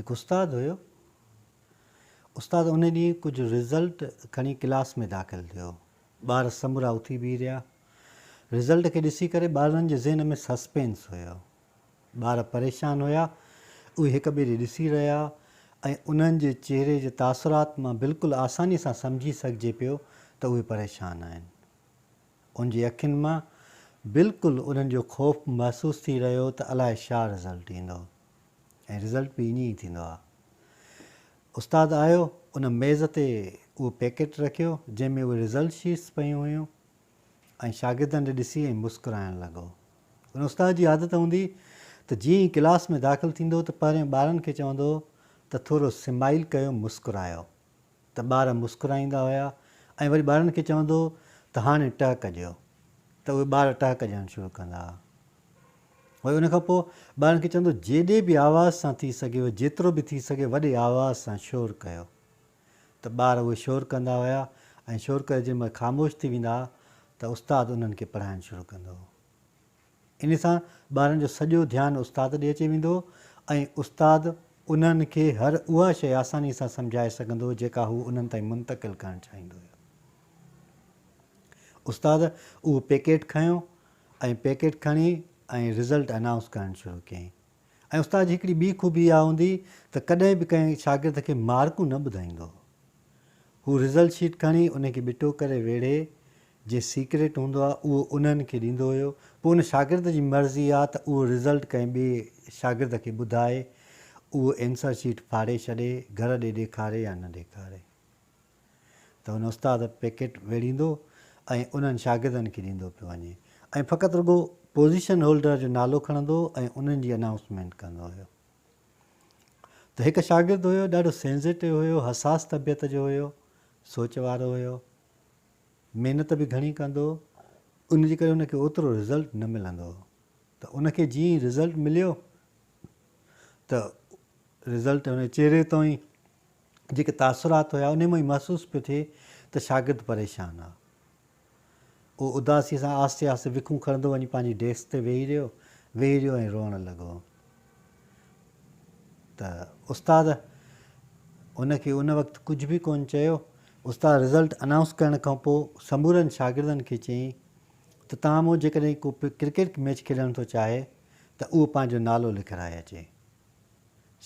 هڪ استاد هيو. استاد ان ڏينهن ڪجهه رزلٽ کڻي ڪلاس ۾ داخل ٿيو. ٻار سمورا اٿي بيهي رهيا. رزلٽ کي ڏسي ڪري ٻارڙن جي ذهن ۾ سسپينس هيو. ٻار پريشان هيا. اهي هڪ ٻئي ڏي ڏسي رهيا ۽ انهن جي چهري جي تاثرات مان بلڪل آساني سان سمجهي سگهجي پيو ته اهي پريشان آهن. ان جي اکين مان بلڪل انهن جو خوف محسوس ٿي رهيو ته الاء شا رزلٽ ايندو ۽ رزلٽ به ائين ئي ٿيندو آ. استاد آيو ان ميز تي اهو پيڪيٽ رکيو جنهن ۾ اهي رزلٽ شيٽس پيون هيون ۽ شاگردن ڏي ڏسي ۽ مسڪرائڻ لڳو. ان استاد جي عادت هوندي ته جيئن ئي ڪلاس ۾ داخل ٿيندو ته پهرين ٻارن کي چوندو ته ٿورو سمائيل ڪيو مسڪرايو. ته ٻار مسڪرائيندا هيا ۽ وري ٻارن کي چوندو هو ته هاڻي ٽهڪ ڏيو ته اهي ٻار ٽهڪ ڏيڻ شروع ڪندا هئا. وري ان کان پوء ٻارن کي چوندو هو جيڏي به آواز سان ٿي سگهيو جيترو به ٿي سگهي وڏي آواز سان شور ڪيو ته ٻار اهي شور ڪندا هيا ۽ شور ڪري جيڏي مهل خاموش ٿي ويندا هئا ته استاد انهن کي پڙهائڻ شروع ڪندو هو. ان سان ٻارن جو سڄو ڌيان استاد ڏي اچي ويندو ۽ استاد انهن کي هر اها شيء آساني سان سمجهائي سگهندو جيڪا هو انهن تائين منتقل ڪرڻ چاهيندو هيو. استاد اهو پيڪيٽ کنيو ۽ پيڪيٽ کڻي ۽ رزلٽ انائونس ڪرڻ شروع ڪيائين. ۽ استاد جي هڪڙي ٻي خوبي اها هوندي ته ڪڏهن به ڪنهن شاگرد کي مارڪون نه ٻڌائيندو هو. هو رزلٽ شيٽ کڻي ان کي ٻٽو ڪري ويڙهي جي سيڪريٽ هوندو آ اهو انهن کي ڏيندو هيو. پوء ان شاگرد جي مرضي آ ته اهو رزلٽ ڪنهن ٻئي شاگرد کي ٻڌائي اهو اينسر شيٽ ڦاڙي ڇڏي، گهر ڏي ڏيکاري يا نه ڏيکاري. ته هن استاد پيڪيٽ ويڙهيندو ۽ انهن شاگردن کي ڏيندو پيو وڃي ۽ فقط رڳو پوزيشن هولڊر جو نالو کڻندو ۽ انهن جي انائونسمينٽ ڪندو هيو ته هڪ شاگرد هيو ڏاڍو سينزيٽو هيو حساس طبيعت جو هيو سوچ وارو هيو محنت به گهڻي ڪندو ان جي ڪري ان کي اوترو رزلٽ نه ملندو هو ته ان کي جيئن رزلٽ مليو ته رزلٽ هن چهري تائين جيڪي تاثرات هيا انهي مان ئي محسوس پيو ٿئي ته شاگرد پريشان آ. اهو اداسي سان آهستي آهستي وکون کڻندو وڃي پنهنجي ڊيسڪ تي ويهي رهيو ويهي رهيو ۽ روئڻ لڳو ته استاد ان کي ان وقت ڪجهه به ڪون چيو. استاد رزلٽ انائونس ڪرڻ کان پوء سمورن شاگردن کي چيائين ته توهان مان جيڪڏهن ڪو ڪرڪيٽ ميچ کيڏڻ ٿو چاهي ته اهو پنهنجو نالو لکرائي اچي.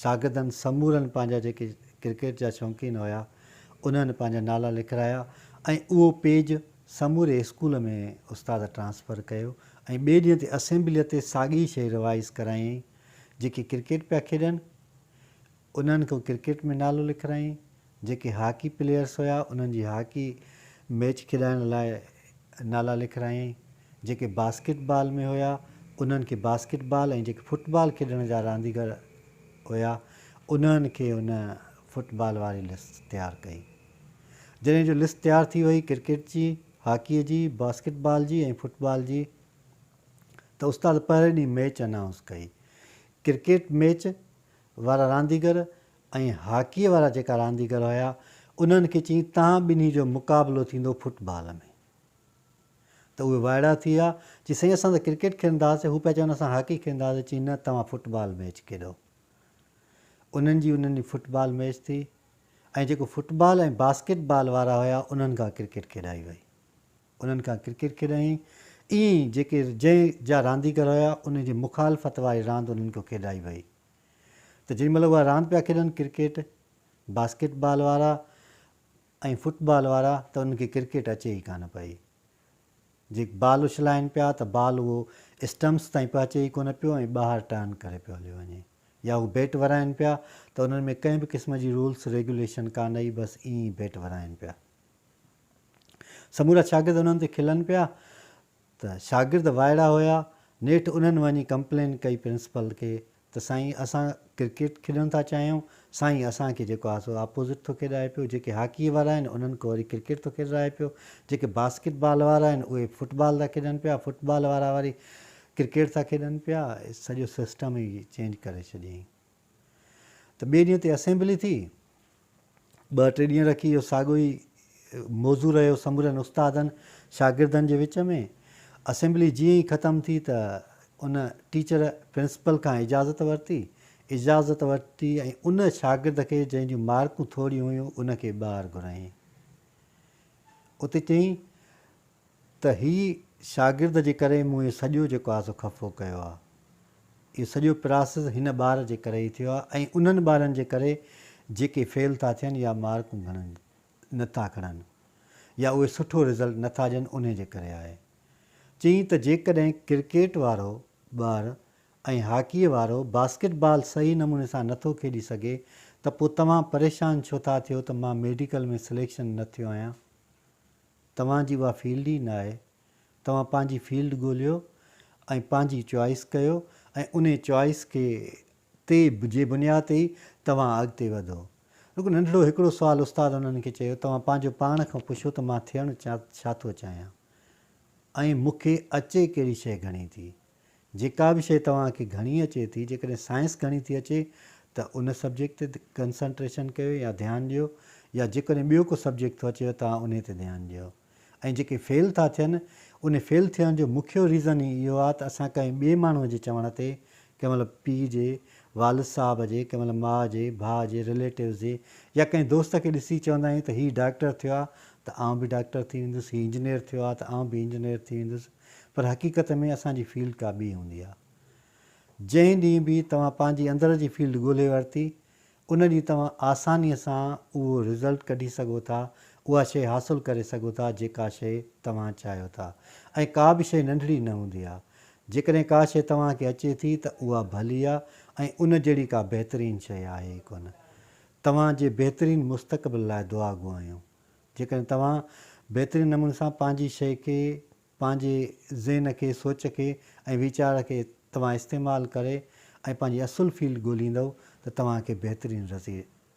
شاگردن سمورن پنهنجا جيڪي ڪرڪيٽ جا شوقين هيا انهن پنهنجا نالا لکرايا ۽ اهو پيج سموري اسڪول ۾ استاد ٽرانسفر ڪيو ۽ ٻئي ڏينهن تي اسيمبليء تي ساڳي شيء روايز ڪرايائين جيڪي ڪرڪيٽ پيا کيڏن انهن ڪو ڪرڪيٽ ۾ نالو لکرايائين. جيڪي هاڪي پليئرز هيا انهن جي هاڪي ميچ کيڏائڻ لاء نالا لکرايائين، جيڪي باسڪيٽ بال ۾ هيا انهن کي باسڪيٽ بال ۽ جيڪي فٽ بال کيڏڻ جا رانديگر هيا انهن کي هن فٽ بال واري لسٽ تيار ڪئي. جڏهن جو لسٽ تيار ٿي وئي ڪرڪيٽ جي، هاڪي جي، باسڪيٽ بال جي ۽ فٽ بال جي ته استاد پهرين ڏينهن ميچ انائونس ڪئي. ڪرڪيٽ ميچ وارا رانديگر ۽ هاڪيء وارا جيڪا رانديگر هيا، انهن کي چيائين، توهان ٻنهي جو مقابلو ٿيندو فٽ بال ۾. ته اهي وائڙا ٿي ويا، چيائين، سائين اسان ته ڪرڪيٽ کيڏندا هئاسين، هو پيا چون اسان هاڪي کيڏندا هئاسين، چيائين، نه توهان فٽ بال ميچ کيڏو. انهن جي انهن ڏينهن فٽ بال ميچ ٿي ۽ جيڪو فٽ بال ۽ باسڪيٽ بال وارا هيا، انهن کان ڪرڪيٽ کيڏائي وئي. انهن کان ڪرڪيٽ کيڏائين، ائين ئي جيڪي جنهن جا رانديگر هيا، انهن جي مخالفت واري راند انهن کان کيڏائي وئي. ته جنهن مهل اها راند پيا کيڏن ڪرڪيٽ، باسڪيٽ بال وارا ۽ فٽ بال وارا ته انهن کي ڪرڪيٽ اچي ئي ڪانه پئي. جي بال اڇلائين پيا ته بال اهو اسٽمپس تائين پهچي ئي ڪونه پيو ۽ ٻاهر ٽرن ڪري پيو هليو وڃي يا هو بيٽ ورائين پيا ته انهن ۾ ڪنهن به قسم جي رولس ريگيوليشن ڪانه هئي بس ائين ئي بيٽ ورائين پيا سمورا شاگرد انهن تي کلن پيا. ته شاگرد وائڙا هيا، نيٺ انهن وڃي ڪمپلين ڪئي پرنسپل کي ته سائين اسان ڪرڪيٽ کيڏڻ ٿا چاهيون، سائين اسان کي جيڪو آهي سو آپوزٽ ٿو کيڏائي پيو، جيڪي هاڪيء وارا آهن انهن کي وري ڪرڪيٽ ٿو کيڏرائي پيو، جيڪي باسڪيٽ بال وارا آهن اهي فٽ بال ٿا کيڏن پيا، فٽ بال وارا وري ڪرڪيٽ ٿا کيڏن پيا، سڄو سسٽم ئي چينج ڪري ڇڏيائين. ته ٻئي ڏينهن تي اسيمبلي ٿي. ٻه ٽي ڏينهن رکي اهو ساڳيو ئي موضوع رهيو سمورن استادن شاگردن جي وچ ۾. اسيمبلي جيئن ئي ختم ٿي ته ان ٽيچر پرنسپل کان اجازت ورتي. اجازت ورتي ۽ ان شاگرد کي جنهن جون مارڪون ٿوريون هيون ان کي ٻاهر گهرائين. اتي چيائين ته هي شاگرد جي ڪري مون هي سڄو جيڪو آهي سو خفو ڪيو آهي. اهو سڄو پراسيس هن ٻار جي ڪري ئي ٿيو آهي ۽ انهن ٻارن جي ڪري جيڪي فيل ٿا ٿين يا مارڪون گهڻن نه ٿا کڻن يا اهي سٺو رزلٽ نه ٿا ڏين انهي جي ڪري آهي. چيائين ته جيڪڏهن ڪرڪيٽ وارو ٻار ۽ هاڪيء وارو باسڪيٽ بال صحيح نموني سان نه ٿو کيڏي سگهي ته پوء توهان پريشان ڇو ٿا ٿيو ته مان ميڊيڪل ۾ سليڪشن نه ٿيو آهيان؟ توهان جي اها فيلڊ ئي ناهي. توهان پنهنجي فيلڊ ڳوليو ۽ پنهنجي چوائس ڪيو ۽ انهي چوائس کي تي جي بنياد تي ئي توهان اڳتي وڌو. رڳو ننڍڙو هڪڙو سوال استاد انهن کي چيو توهان پنهنجو پاڻ کان پڇو ته مان ٿيڻ ڇا ٿو چاهيان ۽ مون کي اچي ڪهڙي شيء گهڻي ٿي. جيڪا به شيء توهان کي گهڻي اچي ٿي، جيڪڏهن سائنس گهڻي ٿي اچي ته ان سبجيڪٽ تي ڪنسنٽريشن ڪيو يا ڌيان ڏيو يا جيڪڏهن ٻيو ڪو سبجيڪٽ ٿو اچيو توهان انهي تي ڌيان ڏيو ۽ جيڪي فيل ٿا ٿين انهي فيل ٿيڻ جو مکيو ريزن ئي اهو آهي ته اسان ڪنهن ٻئي ماڻهوء جي چوڻ تي ڪنهن مهل پيء جي، والد صاحب جي، ڪنهن مهل ماء جي، ڀاء جي، رليٽوز جي يا ڪنهن دوست کي ڏسي چوندا آهيون ته هي ڊاڪٽر ٿيو آهي ته آئون به ڊاڪٽر ٿي ويندس، هي انجنيئر ٿيو آهي ته آئون به انجنيئر ٿي ويندس. پر حقيقت ۾ اسان جي فيلڊ ڪا ٻي هوندي آهي. جنهن ڏينهن به توهان پنهنجي اندر جي فيلڊ ڳولهي ورتي، ان ڏينهن توهان آسانيء سان اهو رزلٽ ڪڍي سگهو ٿا، اها شيء حاصل ڪري سگهو ٿا جيڪا شيء توهان چاهيو ٿا. ۽ ڪا به شيء ننڍڙي نه هوندي آهي. جيڪڏهن ڪا شيء توهان کي اچي ٿي ته اها ڀلي آهي ۽ ان جهڙي ڪا بهترين شيء آهي ئي ڪونه. توهان جي بهترين مستقبل لاء دعا گهايون. جيڪڏهن توهان بهترين نموني سان پنهنجي شيء کي، پنهنجي ذهن کي، سوچ کي ۽ ويچار کي توهان استعمال ڪري ۽ پنهنجي اصل فيلڊ ڳوليندؤ ته توهان کي بهترين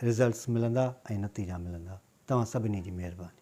رزلٽس ملندا ۽ نتيجا ملندا. توهان سڀني جي مهرباني.